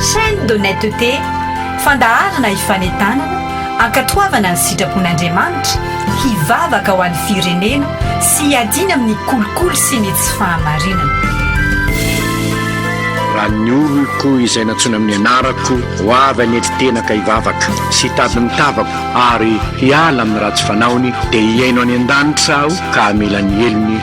Chaîne d'honnêteté, fandaharana hifanentanana, hankatoavana ny sitrapon'Andriamanitra, hivavaka ho an'ny firenena sy hiadiana amin'ny kolikoly sy ny tsy fahamarinana. Raha ny oloko izay nantsoina amin'ny anarako ho avy hanetry tena ka hivavaka sy hitady ny tavako ary hiala amin'ny ratsy fanaony dia hihaino any an-danitra aho ka hamela ny helony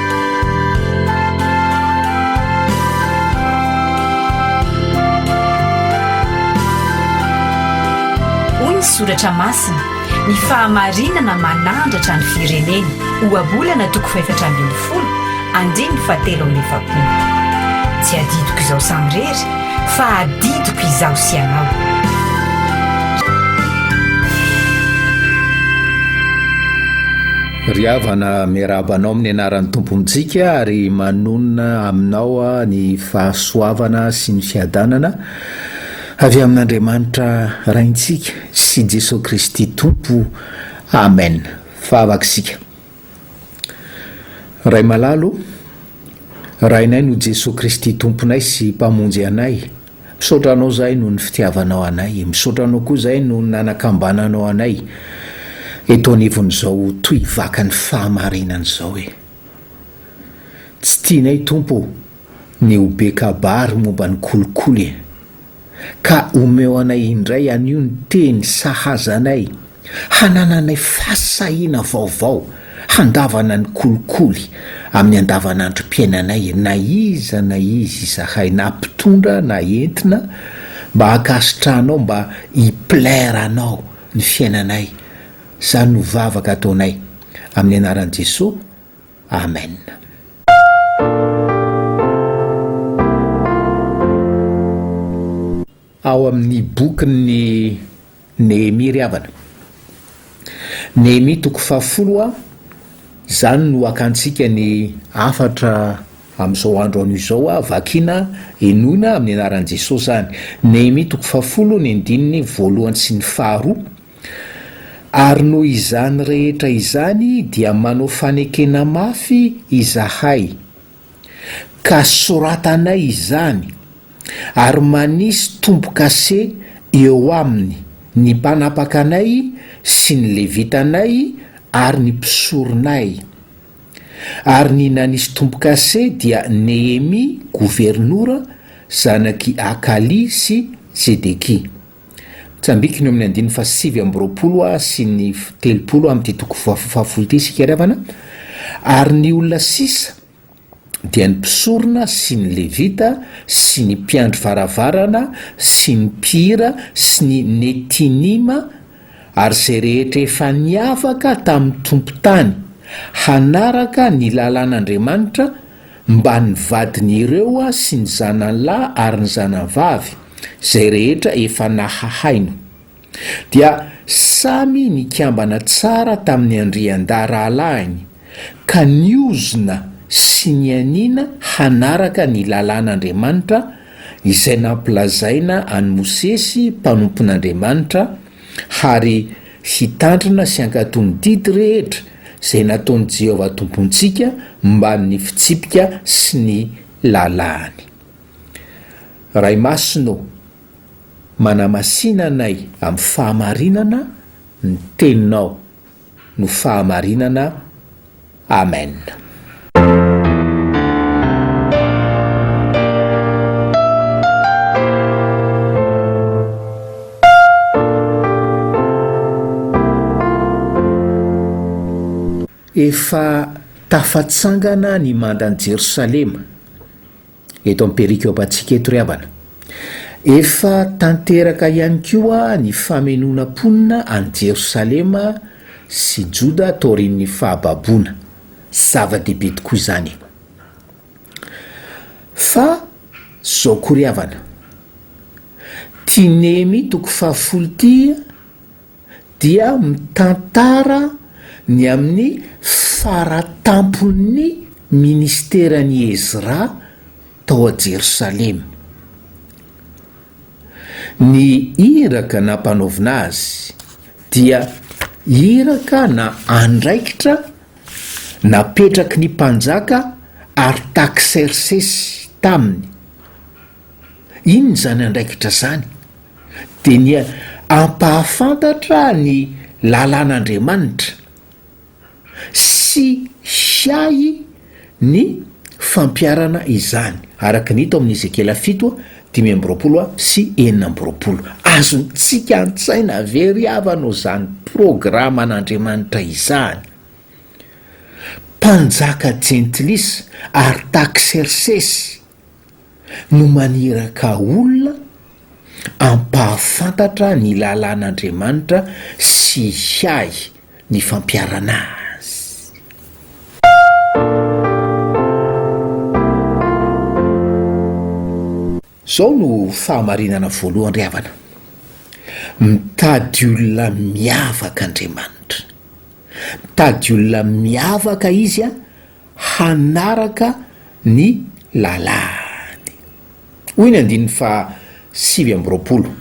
Hoy ny soratra masina, Ny fahamarinana manandratra ny firenena, Ohabolana toko fahefatra ambin'ny folo, andininy fahatelo amby efapolo. Tsy adidiko izaho samirery, fa adidiko izaho sy ianao. Ry havana miarahaba anao amin'ny anaran'ny Tompo Mijika ary manonona aminao ny fahasoavana sy ny fiadanana avy amin'Andriamanitra Raintsika sy Jesoa Kristy Tompo. Amen. Fahavaka isika. Ray malalo ô, Rainay no Jesoa Kristy Tomponay sy Mpamonjy anay. Misaotra anao zahay noho ny fitiavanao anay, misaotra anao koa zahay noho ny nanakambananao anay eto anivon'izao tohy vakan'ny fahamarinana izao e. Tsy tianay Tompo ô ny ho be kabary momba ny kolikoly e. Ka omeo anay indray anio ny teny sahaza anay. hanananay fahasahiana vaovao handavana ny kolikoly amin'ny andavanandrom-piainanay na iza na iza izahay na mpitondra na entina mba hankasitrahanao mba hi-plaire anao ny fiainanay izany no vavaka ataonay amin'ny anaran'i Jesoa Amen. Ao amin'ny bokin'i Nehemia ry havana. Nehemia toko fahafolo a Izany no hakantsika ny hafatra amin'izao andro anio izao a Vakina, henoina amin'ny anaran'i Jesosy izany. Nehemia toko fahafolo ny andininy voalohany sy ny faharoa Ary noho izany rehetra izany dia manao fanekena mafy izahay. ka soratanay izany ary manisy tombo-kase eo aminy ny mpanapaka anay sy ny Levitanay ary ny mpisoronay. Ary ny nanisy tombo-kase dia Nehemia governora, zanak'i Hakalia sy Tsedekia. Tsambikiny eo amin'ny andininy fahasivy amby roapolo sy ny telopolo amin'ity toko fahafolo ity isika ry havana, ary ny olona sisa dia ny mpisorona sy ny Levita sy ny mpiandry varavarana sy ny mpihira sy ny Netinima ary izay rehetra efa niavaka tamin'ny tompon-tany hanaraka ny lalàn'Andriamanitra, mba ny vadiny ireo sy ny zanany lahy ary ny zanany vavy, izay rehetra efa nahahaino. Dia samy nikambana tsara tamin'ny andriandahy rahalahiny, ka niozona sy nianiana hanaraka ny lalàn'Andriamanitra, izay nampilazaina an'i Mosesy mpanompon'Andriamanitra, Ary hitandrina sy hankatò ny didy rehetra izay nataon'i Jehovah Tompontsika momba ny fitsipika sy ny lalàny. Ray Masina ô, manamasina anay amin'ny fahamarinana ny Teninao. no fahamarinana Amen. Efa tafatsangana ny mandan'i Jerosalema. eto amin'ny perikopantsika eto ry havana. Efa tanteraka ihany koa ny famenoana mponina any Jerosalema sy Joda taorian'ny fahababoana. Zava-dehibe tokoa izany e! Fa izao koa ry havana, ity Nehemia toko fahafolo ity dia mitantara ny amin'ny faratampon'ny ministeran'i Ezra tao Jerosalema. Ny iraka nampanaovina azy dia iraka na andraikitra napetraky ny mpanjaka Artaksersesy taminy. Inona izany andraikitra izany? Dia ny hampahafantatra ny lalàn'Andriamanitra sy hiahy ny fampiharana izany, araka ny hita ao amin'ny Ezekiela fito, dimy amby roapolo sy enina amby roapolo. Azontsika an-tsaina ve ry havana izany programan'Andriamanitra izany? Mpanjaka jentilisa, Artaksersesy, no maniraka olona hampahafantatra ny lalàn'Andriamanitra sy hiahy ny fampiharana Azy. Izao no fahamarinana voalohany ry havana, mitady olona miavaka Andriamanitra. Mitady olona miavaka Izy hanaraka ny lalàny. Hoy ny andininy faha sivy amby roapolo,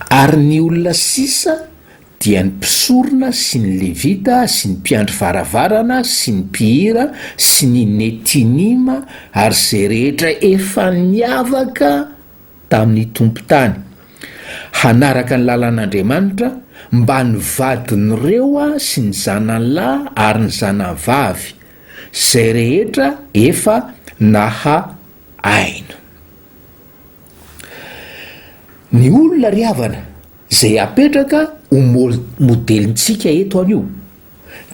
Ary ny olona sisa dia ny mpisorona sy ny Levita sy ny mpiandry varavarana sy ny mpihira sy ny Netinima ary izay rehetra efa niavaka tamin'ny tompon-tany hanaraka ny lalan'Andriamanitra mba ny vadin'ireo sy ny zanany lahy ary ny zanany vavy, izay rehetra efa naha aina. Ny olona ry havana izay apetraka ho modelintsika eto anio.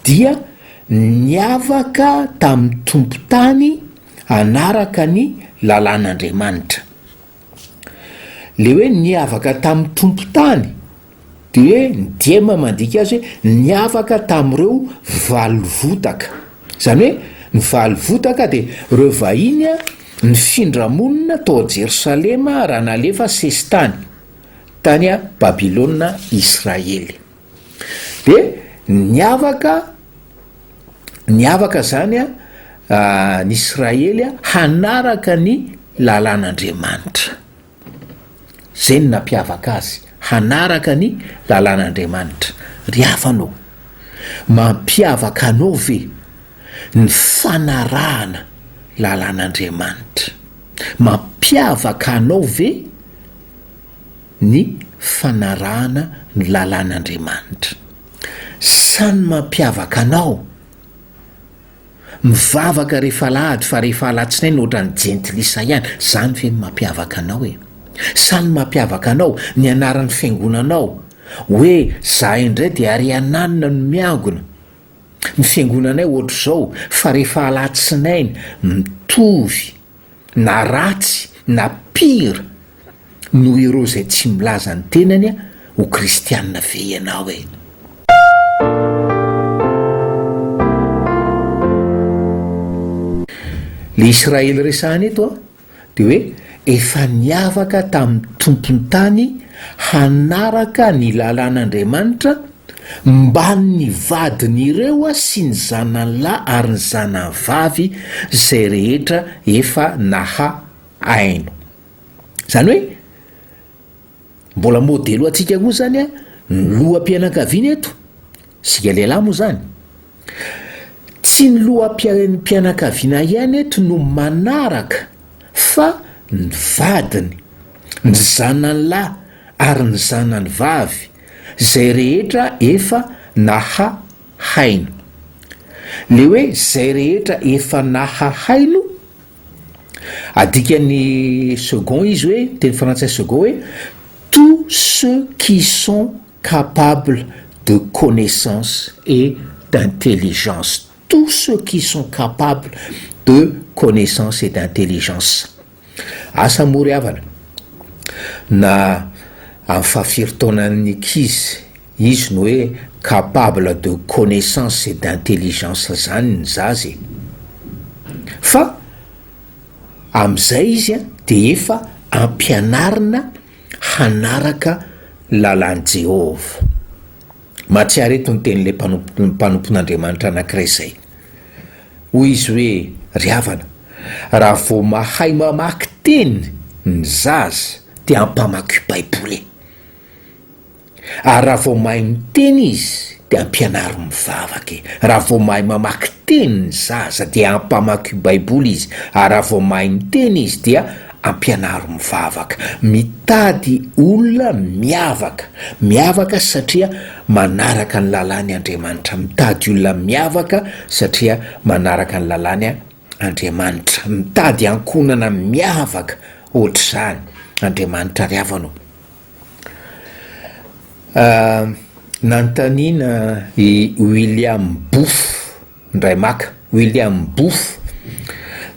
dia niavaka tamin'ny tompon-tany hanaraka ny lalàn'Andriamanitra. Ilay hoe niavaka tamin'ny tompon-tany dia hoe ny diema mandika azy hoe niavaka tamin'ireo valovotaka. Izany hoe ny valovotaka dia ireo vahiny nifindra monina tao Jerosalema raha nalefa sesitany tany Babylona Israely. Dia niavaka niavaka izany a ny Israely a hanaraka ny lalàn'Andriamanitra. Zay no nampiavaka azy, hanaraka ny lalàn'Andriamanitra. Ry havana o, mampiavaka anao ve ny fanarahana lalàn'Andriamanitra? Mampiavaka anao ve? ny fanarahana ny lalàn'Andriamanitra. Samy mampiavaka anao mivavaka rehefa alahady fa rehefa alatsinainy ohatran'ny jentilisa ihany, zany ve no mampiavaka anao e? Sa ny mampiavaka anao ny anaran'ny fiangonanao hoe zahay indray dia ariananina no miangona, ny fiangonanay ohatr'izao fa rehefa alatsinainy mitovy, na ratsy na pire noho ireo izay tsy milaza ny tenany ho kristianina ve ianao e? Le Israely resahana eto a, de hoe efa niavaka tamin'ny tompon'ny tany hanaraka ny lalàn'Andriamanitra, Mban' ny vadin' ireo sy ny zanany lahy ary ny zanany vavy izay rehetra efa naha aino. Izany hoe, mbola modely ho antsika koa izany ny loham-pianakaviana eto, isika lehilahy moa izany. Tsy ny loham-piarenm-pianakaviana ihany eto no manaraka fa ny vadiny, ny zanany lahy ary ny zanany vavy, izay rehetra efa naha haino. Le hoe izay rehetra efa naha haino, adikan'ny second izy hoe, teny frantsay second hoe, tous ceux qui sont. Capable de connaissance et d'intelligence, tous ceux qui sont capable de connaissance et d'intelligence. Asa moa ry havana na amin'ny fahafiry taonan'ny ankizy izy no hoe capable de connaissance et d'intelligence zany ny zaza e! Fa amin'izay izy dia efa ampianarina hanaraka ny lalàn'i Jehovah. Mahatsiaro eto ny tenin'ilay mpanompo mpanompon'Andriamanitra anankiray izay. Hoy izy hoe, Ry havana, raha vao mahay mamaky teny ny zaza, dia ampamakio Baiboly e! Ary raha vao mahay miteny izy dia ampianaro mivavaka e! Raha vao mahay mamaky teny ny zaza dia ampamakio baiboly izy, ary raha vao mahay miteny izy dia ampianaro mivavaka. Mitady olona miavaka, miavaka satria manaraka ny lalàny Andriamanitra, mitady olona miavaka satria manaraka ny lalàny Andriamanitra, mitady ankohonana miavaka ohatr'izany, Andriamanitra ry havana o! Nanontaniana i William Booth indray maka. William Booth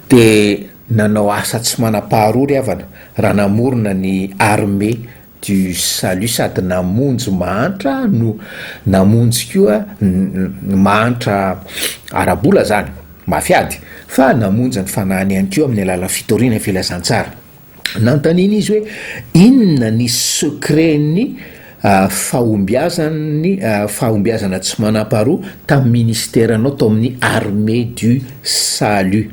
dia nanao asa tsy manam-paharoa ry havana raha namorona ny Armée du Salut sady namonjy mahantra no namonjy koa mahantra ara-bola izany, mafy ady, fa namonjy ny fanahiny ihany koa amin'ny alalan'ny fitoriana ny filazantsara. Nanontaniana izy hoe inona ny secret-n'ny fahombiazan'ny fahombiazana tsy manam-paharoa tamin'ny ministeranao tao amin'ny Armée du Salut.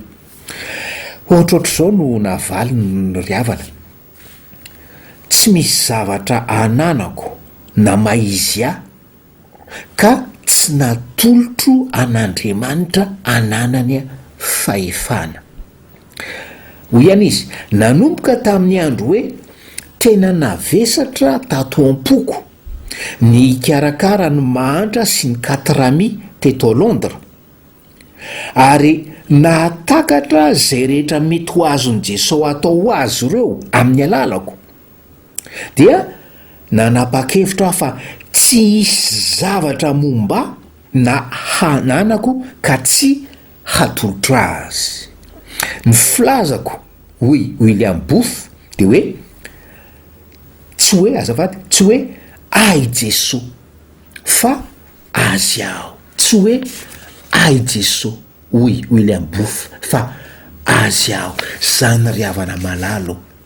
Ohatrohatr'izao no navaliny ry havana, Tsy misy zavatra ananako na maizia ka tsy natolotro an'Andriamanitra ananany fahefana. Hoy ihany izy, Nanomboka tamin'ny andro hoe tena navesatra tato am-poko ny hikarakara ny mahantra sy ny katrami teto Londres, ary nahatakatra izay rehetra mety ho azon'i Jesosy atao ho azy ireo amin'ny alalako. dia nanapa-kevitro aho fa tsy hisy zavatra momba na hananako ka tsy hatolotro azy. Ny filazako, hoy William Booth, dia hoe, tsy hoe, azafady, tsy hoe Ahy Jesoa, fa Azy aho. Tsy hoe Ahy Jesoa, hoy William Booth, fa Azy aho. Izany ry havana malalo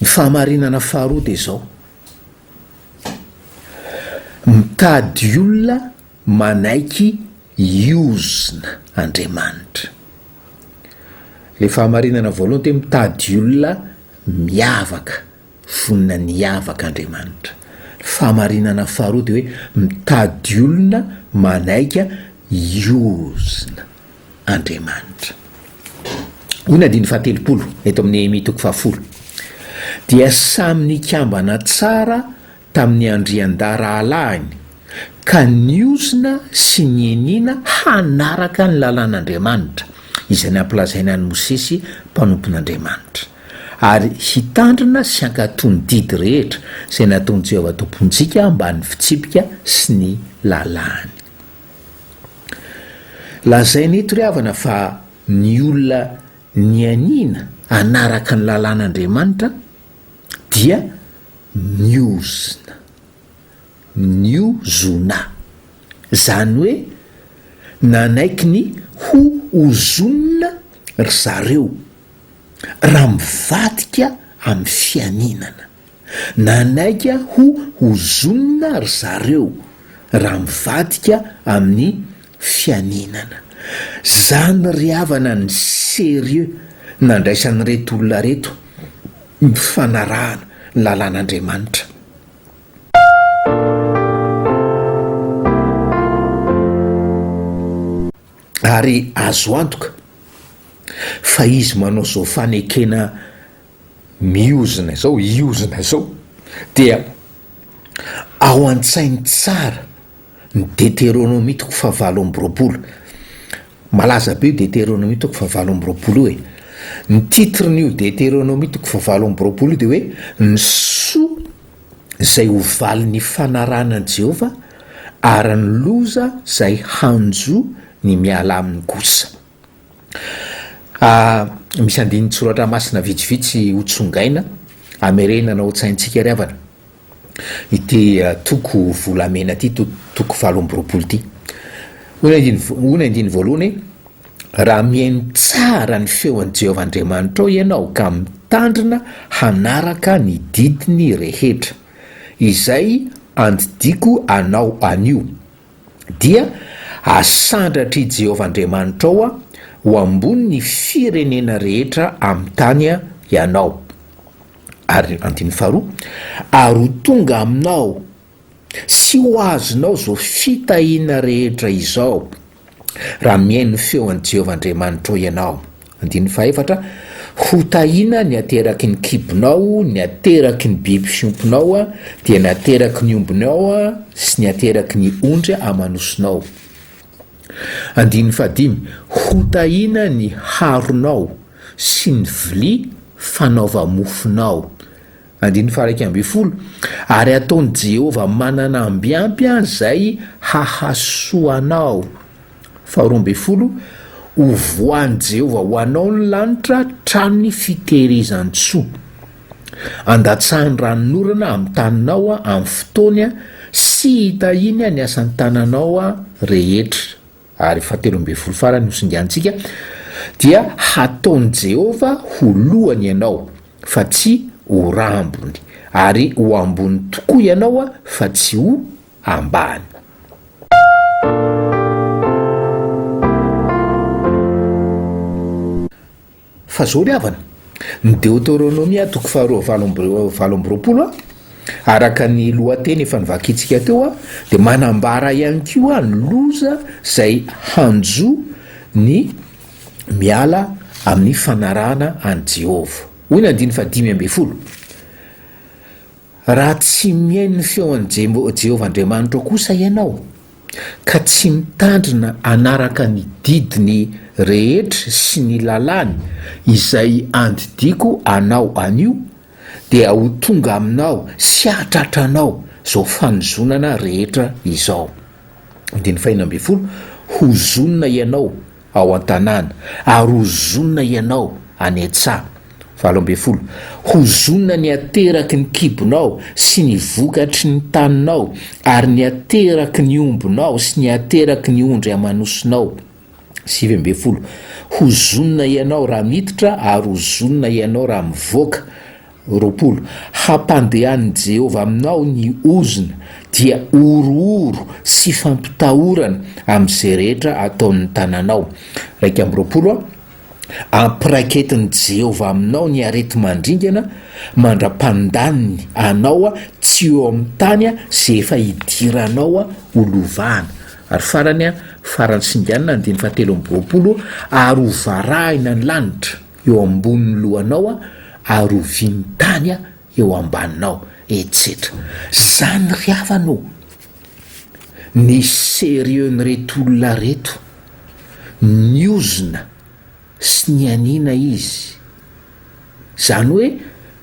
Ny fahamarinana faharoa dia izao, mitady olona manaiky hiozona Andriamanitra. Ilay fahamarinana voalohany dia hoe mitady olona miavaka. Vonona ny hiavaka Andriamanitra. Fahamarinana faharoa dia hoe mitady olona manaiga hiozona Andriamanitra. Hoy ny andininy fahatelopolo eto amin'ny Nehemia toko fahafolo, Dia samy nikambana tsara tamin'ny andrian-darahalahiny, ka niozona sy nianiana hanaraka ny lalàn'Andriamanitra, izay nampilazainy an'i Mosesy mpanompon'Andriamanitra, ary hitandrina sy hankatò ny didy rehetra izay nataon'i Jehovah Tompontsika ambanin'ny fitsipika sy ny lalàny. Lazaina eto ry havana fa ny olona nianiana hanaraka ny lalàn'Andriamanitra, dia niozona, niozona, izany hoe nanaiky ny ho ozonina ry zareo, raha mivadika amin'ny fianinana, nanaika ho ozonina ry zareo, raha mivadika amin'ny Fianinana. Zany ry havana ny sérieux nandraisan'ireto olona reto ny fanarahana ny lalan'Andriamanitra. Ary azo antoka fa izy manao zao fanekena Miozona izao, hiozona izao dia ao an-tsainy tsara ny Deteronomia toko fahavalo amby roapolo. Malaza be io Deteronomia toko fahavalo amby roapolo io e! Ny titren'io Deteronomia toko fahavalo amby roapolo io dia hoe ny soa izay ho valin'ny ifanarahana an'i Jehovah ary ny loza izay hanjo ny miala aminy kosa. A Misy andinin-tsoratra masina vitsivitsy hotsongaina hamerenana ao an-tsaintsika ry havana ity toko volamena ity, to- toko valo amby roapolo ity. Hoy ny andininy vo- hoy ny andininy voalohany hoe, Raha mihaino tsara ny feon'i Jehovah Andriamanitrao ianao ka mitandrina hanaraka ny didiny rehetra, izay andidiako anao anio, dia asandratr'i Jehovah Andriamanitrao ho ambonin'ny firenena rehetra amin'ny tany ianao. Ary andininy faharoa, Ary ho tonga aminao sy ho azonao izao fitahiana rehetra izao, raha mihaino ny feon'i Jehovah Andriamanitrao ianao. Andininy fahefatra, Ho tahiana ny ateraky ny kibonao, ny ateraky ny biby fiompinao, dia ny ateraky ny ombinao sy ny ateraky ny ondry aman'osinao. Andininy fahadimy, Ho tahiana ny haronao sy ny vilia fanaova-mofonao. Andininy faha-iraika ambin'ny folo, Ary hataon'i Jehovah manana ambiampy ahy izay hahasoa anao. Faharoa ambin'ny folo, Hovoahan'i Jehovah ho anao ny lanitra, tranon'ny fitehirizan-tsoa. Handatsahany ranonorana amin'ny taninao amin'ny fotoany, sy hitahiany ny asan-tananao rehetra. ary fahatelo ambin'ny folo farany hosingantsika, dia hataon'i Jehovah ho lohany ianao, fa tsy ho rambony, ary ho ambony tokoa ianao, fa tsy ho ambany. Fa zao ry havana, ny Deoteronomia toko faharoa valo amby valo amby roapolo, araka ny lohateny efa novakintsika teo, dia manambara ihany koa ny loza izay hanjo ny miala amin'ny fanarahana an'i Jehovah. Hoy ny andininy fahadimy ambin'ny folo. Raha tsy mihaino ny feon'i Jehovah Andriamanitrao kosa ianao, ka tsy mitandrina hanaraka ny didiny rehetra sy ny lalàny izay andidiako anao anio, dia ho tonga aminao sy hahatratra anao izao fanozonana rehetra izao. Hozonina ianao ao an-tanàna, ary ho zonona ianao any an-tsaha. Valo ambin'ny folo, Ho zonona ny ateraky ny kibonao sy ny vokatry ny taninao, ary ny ateraky ny ombinao sy ny ateraky ny ondry aman'osinao. Sivy ambin'ny folo, Ho zonona ianao raha miditra, ary ho zonona ianao raha mivoaka, Roapolo, hampandehanin'i Jehovah aminao ny ozona, dia horohoro sy fampitahorana amin'izay rehetra ataon'ny tananao. Iraika amby roapolo, Hampiraiketin'i Jehovah aminao ny areti-mandringana, mandra-pandaniny anao tsy eo amin'ny tany izay efa hidiranao ho lovana. Ary farany, farany singanina, andininy fahatelo amby roapolo, Ary hovarahina ny lanitra. eo ambonin'ny lohanao ary ovian'ny tany eo ambaninao, etsetra. Zany ry havana o! Ny sérieux n'ireto olona reto, niozona sy nianiana izy. Zany hoe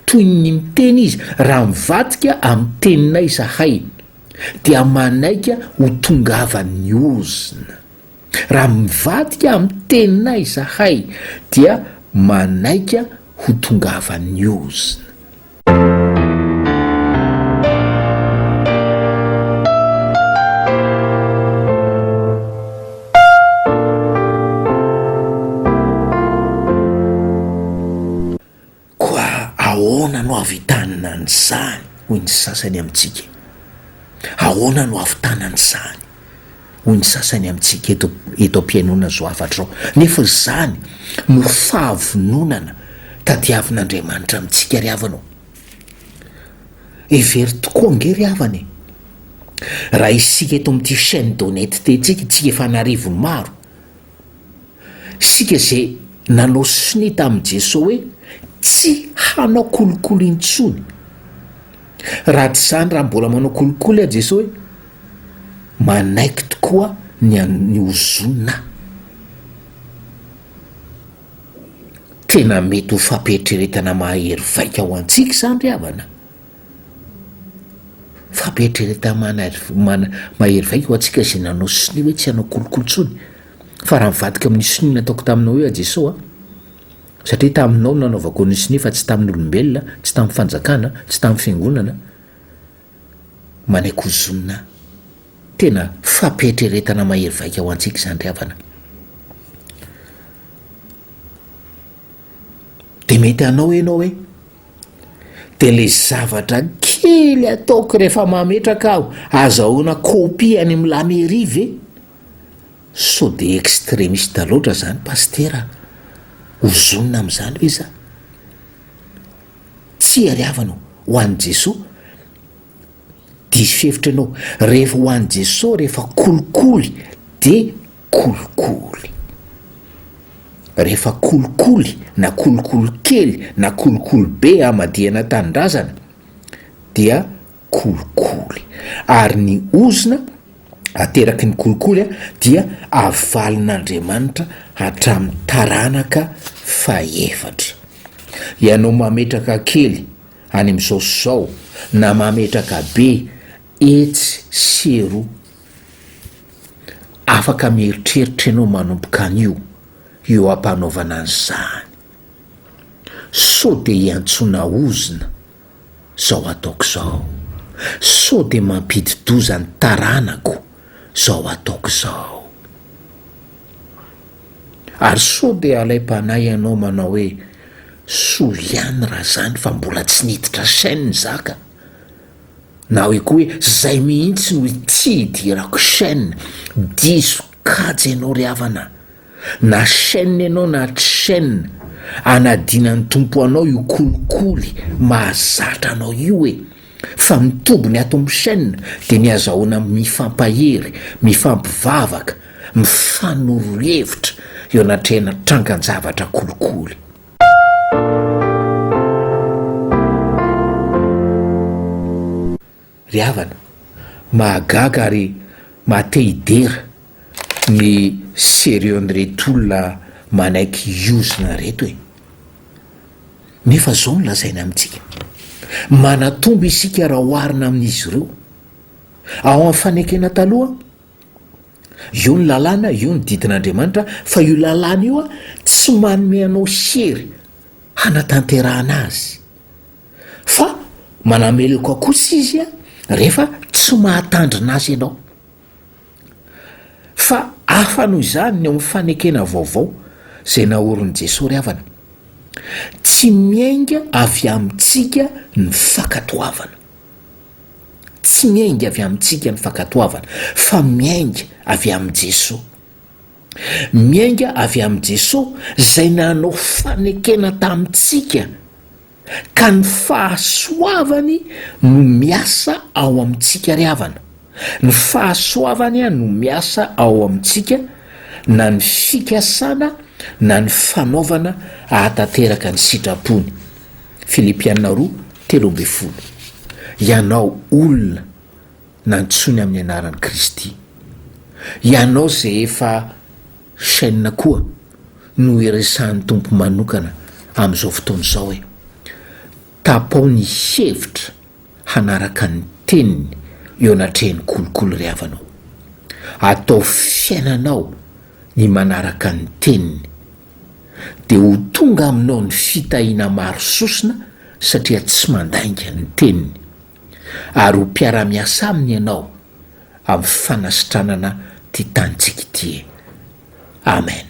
toy ny miteny izy, raha mivadika amin'ny teninay zahay dia manaika ho tongavan'ny ozona. Raha mivadika amin'ny teninay izahay dia manaika ho tongavan'ny ozona. Koa ahoana no havitanina an'izany, hoy ny sasany amintsika? Ahoana no hahavitana an'izany? hoy ny sasany amintsika eto, eto am-pihainoana izao hafatra izao. Nefa izany no fahavononana tadiavin'Andriamanitra amintsika ry havana ô! Hevero tokoa ange ry havana e! Raha isika eto amin'ity chaine d'honnêteté-ntsika, isika efa an'arivony maro, Isika izay nanao sonia tamin'i Jesoa hoe tsy hanao kolikoly intsony. Raha tsy izany, raha mbola manao kolikoly aho, Jesoa hoe, manaiky tokoa ny an'ny ozonina aho. Tena mety ho fampiheritreretana mahahery vaika ho antsika izany ry havana. Fampieritrereta mahery vaika ho antsika izay nanao sonia hoe tsy hanao kolikoly intsony, fa raha mivadika amin'ny sonia nataoko taminao hoe Jeso a, satria taminao no nanaovako ny sonia fa tsy tamin'olombelona, tsy tamin'ny fanjakana, tsy tamin'ny fiangonana, manaiky hozonina ahy. Tena fampieritrretana mahery vaika ho antsika izany ry havana. Dia mety hanao ianao hoe. dia ilay zavatra kely ataoko rehefa mametraka aho, azahoana copie any amin'ny la mairie ve? Sao dia extremiste loatra izany Pasitera a! Ozonina amin'izany ve za? Tsia ry havana ô, ho an'i Jesoa, diso hevitra ianao, rehefa ho an'i Jesoa, rehefa kolikoly dia. kolikoly. Rehefa kolikoly na kolikoly kely na kolikoly be hamadihana tanindrazana dia kolikoly. Ary ny ozona ateraky ny kolikoly dia avalin'Andriamanitra hatramin'ny taranaka fahefatra. Ianao mametraka kely any amin'izao sy izao na mametraka be etsy sy eroa Afaka mieritreritra ianao manomboka anio eo am-panaovana an'izany. Sao dia iantsoana ozona izao ataoko izao? Sao dia mampidi-doza ny taranako izao ataoko izao? Ary sao dia alaim-panahy ianao manao hoe, soa ihany raha izany fa mbola tsy niditra chaîne zaka? Na hoe koa hoe zay mihintsy no ity hidirako chaine, diso kajy enao ry havana na chaine enao na tsy chaine anadinan'ny Tompo anao io kolikoly mahazatra anao io e! fa ny tobiny ato amin'ny chaine dia ny azahoana mifampahery, mifampivavaka, mifanorohevitra eo anatrehana trangan-javatra kolikoly. Ry havana, mahagaga ary mahatehidera ny sérieux n'ireto olona manaiky hiozona ireto e! Nefa izao no lazainy amintsika, manatombo isika raha oharina amin'izy ireo. Ao amin'ny fanekena taloha, Io ny lalàna, io ny didin'Andriamanitra, fa io lalàna io tsy manome anao hery hanatanterahana azy. Fa manameloka kosa izy rehefa tsy mahatandrina azy ianao. Fa hafa noho izany ny eo amin'ny fanekena vaovao izay naorin'i Jesoa ry havana. Tsy miainga avy amintsika ny fankatoavana. Tsy miainga avy amintsika ny fankatoavana fa miainga avy amin'i Jesoa. Miainga avy amin'i Jesoa izay nanao fanekena tamintsika ka ny fahasoavany no miasa ao amintsika ry havana. Ny fahasoavany no miasa ao amintsika na ny fikasana na ny fanaovana ahatanteraka ny sitrapony. Filipiana roa, telo ambin'ny folo. Ianao olona nantsoiny amin'ny anaran'i Kristy. Ianao izay efa chaîne koa no iresahan'ny Tompo manokana amin'izao fotoana izao e. Tapao ny hevitra hanaraka ny teniny eo anatrehan'ny kolikoly ry havanao. Ataovy fiainanao ny manaraka ny teniny. dia ho tonga aminao ny fitahiana maro sosona satria tsy mandainga ny teniny, ary ho mpiara-miasa aminy ianao amin'ny fanasitranana ity tanintsika ity. Amen.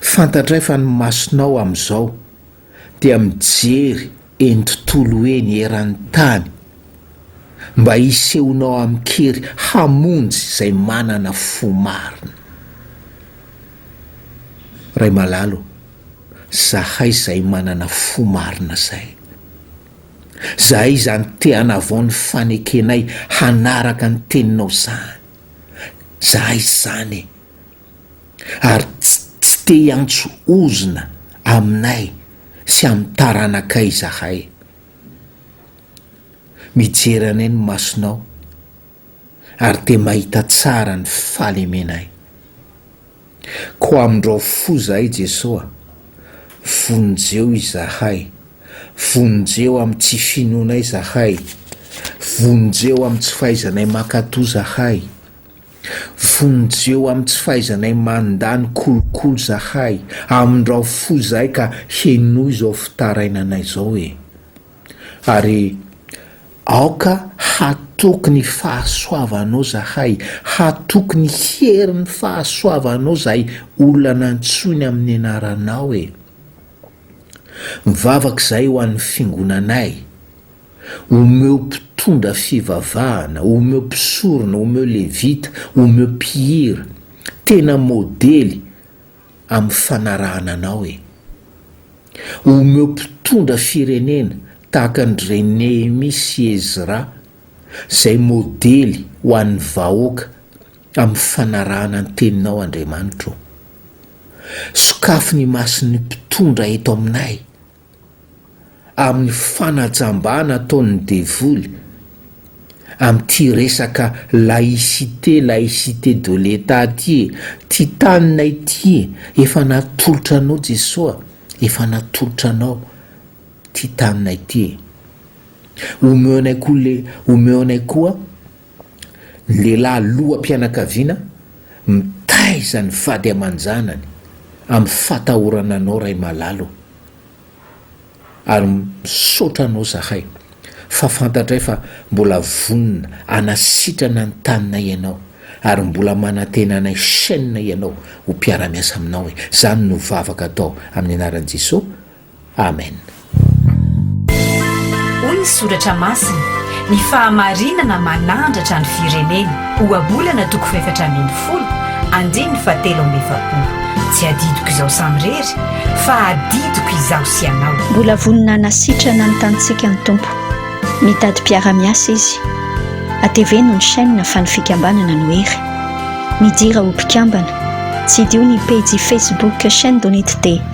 Fantatray fa ny masonao amin'izao dia mijery eny tontolo eny eran'ny tany mba hisehonao amin-kery hamonjy izay manana fo marina. Ray malalo ô, zahay izay manana fo marina izay. Zahay izany te hanavao ny fanekenay hanaraka ny teninao izany. Zahay izany e. ary tsy tsy te hiantso ozona aminay sy amin'ny taranakay izahay. Mijery anay ny masonao ary dia mahita tsara ny fahalemenay. Koa amindrao fo izahay Jeso a! Vonjeo izahay, vonjeo amin'ny tsy finoanay izahay, vonjeo amin'ny tsy fahaizanay mankatò izahay. Vonjeo amin'ny tsy fahaizanay mandà ny kolokolo zahay, amindrao fo izahay ka henoy izao fitarainanay izao e! Ary aoka hatoky ny fahasoavanao zahay, hatoky ny herin'ny fahasoavanao izay olona nantsoiny amin'ny anaranao e! Mivavaka izahay ho an'ny fingonanay. Omeo mpitondra fivavahana, omeo mpisorona, omeo levita, omeo mpihira, tena modely amin'ny fanarahana Anao e. Omeo mpitondra firenena tahaka an-dry re Nehemia sy Ezra izay modely ho an'ny vahoaka amin'ny fanarahana ny Teninao Andriamanitra o. Sokafy ny mason'ny mpitondra eto aminay. amin'ny fanajambana ataon'ny devoly amin'ity resaka laïcité, laïcité de l'Etat ity e! Ty tanina ity efa natolotra anao Jesoa, efa natolotra anao ty tanina ity e! Omeo anay koa le, omeo anay koa Ny lehilahy loham-pianakaviana mitaiza ny vady aman-janany amin'ny fahatahorana anao Ray malalo a! ary misaotra anao zahay fa fantatray fa mbola vonona hanasitrana ny taninay ianao ary mbola manantena anay chaîne ianao ho mpiara-miasa aminao e! zany no vavaka atao amin'ny anaran'i Jesoa Amen. Hoy ny soratra masina, Ny fahamarinana manandratra ny firenena, Ohabolana toko fahefatra ambin'ny folo, andininy fahatelo amby efapolo. Tsy adidiko izaho samirery, fa adidiko izaho sy ianao. Mbola vonona hanasitrana ny tanintsika ny Tompo. Mitady mpiara-miasa Izy. Ateveno ny chaîne fa ny fikambanana no hery. Midira ho mpikambana. Tsidiho ny pejy Facebook Chaîne Donitd.